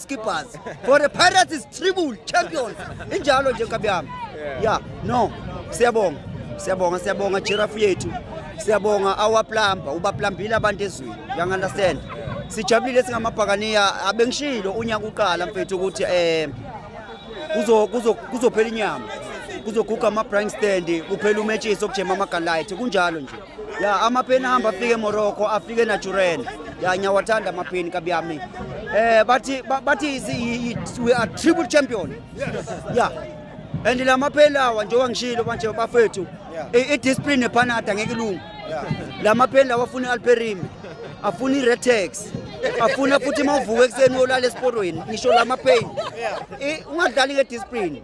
skippers for the pirates is triple champions injalo nje nkabi yami ya no siyabonga siyabonga siyabonga jirafu yethu siyabonga awaplamba ubaplambile abantu ezweni yangunderstand sijabulile singamabhakaniya abengishilo unyaka uqala mfethu ukuthi um kuzophela inyama kuzoguga ama-bring stand kuphela umetshisi okujema amagalayithi kunjalo nje ya amapeni ahamba afike emorocco afike enaturena ya ngiyawathanda amapeni kabi yami eh bathi ba- bathi is- i- i- we are triple champion ya and la mapeni lawa njengoba ngishilo manje bafethu i- i-discipline nephanada ngeke ilunge la mapeni lawa afuna i-alperime afuna i-retex afuna futhi uma uvuka ekuseni uyolala esiporweni ngisho la mapeni I- ungadlali ngediscipline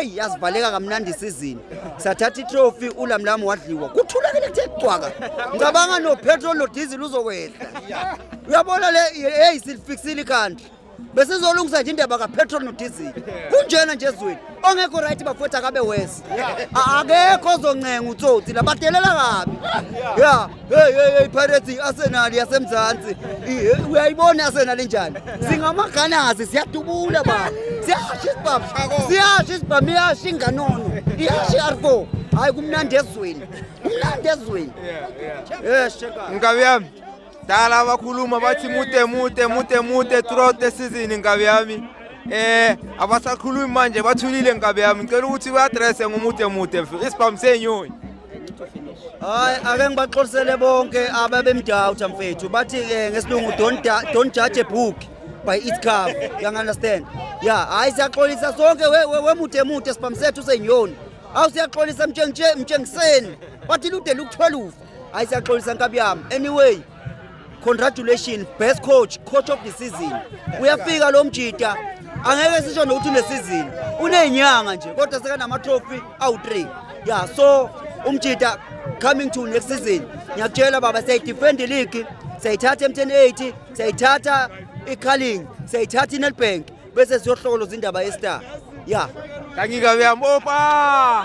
eyi yazivaleka kamnandi isizini sathatha itrophy ulamlamu wadliwa kuthulakele kuthe cwaka ngicabanga nopetrol nodizili uzokwehla uyabona le eyi silifiksile ikhanda besizolungisa nje indaba kapetrol nodizili kunjena nje ezweni ongekho right bafowethu akabe wese akekho ozoncenga utsotsi labadelela kabi ya Hey hey hey Pirates Arsenal yaseMzansi. Uyayibona Arsenal injani? Singamaganazi siyadubula baba. Siyasha isibhamu. Siyasha isibhamu iyasha inganono. Iyasha arfo. Hayi kumnandi ezweni. Kumnandi ezweni. Yeah yeah. Yes cheka. Mkabi yami. Dala abakhuluma bathi mude mude mude mude throughout the season Mkabi yami. eh abasakhulumi manje bathulile nkabe yami ngicela ukuthi uyaddresse ngomude mude isibhamu senyoni hayi ake ngibaxolisele bonke ababemdawutha mfethu bathi ke eh, ngesilungu don't judge a book by its cover you understand ya hayi siyaxolisa sonke wemude emude sibhamsethu senyoni awu siyaxolisa mtshengiseni bathi lude luku-12 hayi siyaxolisa nkabi yami anyway congratulations best coach coach of the season uyafika lo mjita angeke sisho nokuthi unesizini unenyanga nje kodwa sekanama-trophy awu-3 ya so umjita coming to next season ngiyakutshela baba siyayidefend league siyayithatha emtheni 80 siyayithatha icaling siyayithatha inelbank bese siyohlokoloza indaba yestar ya kangikabeyam opa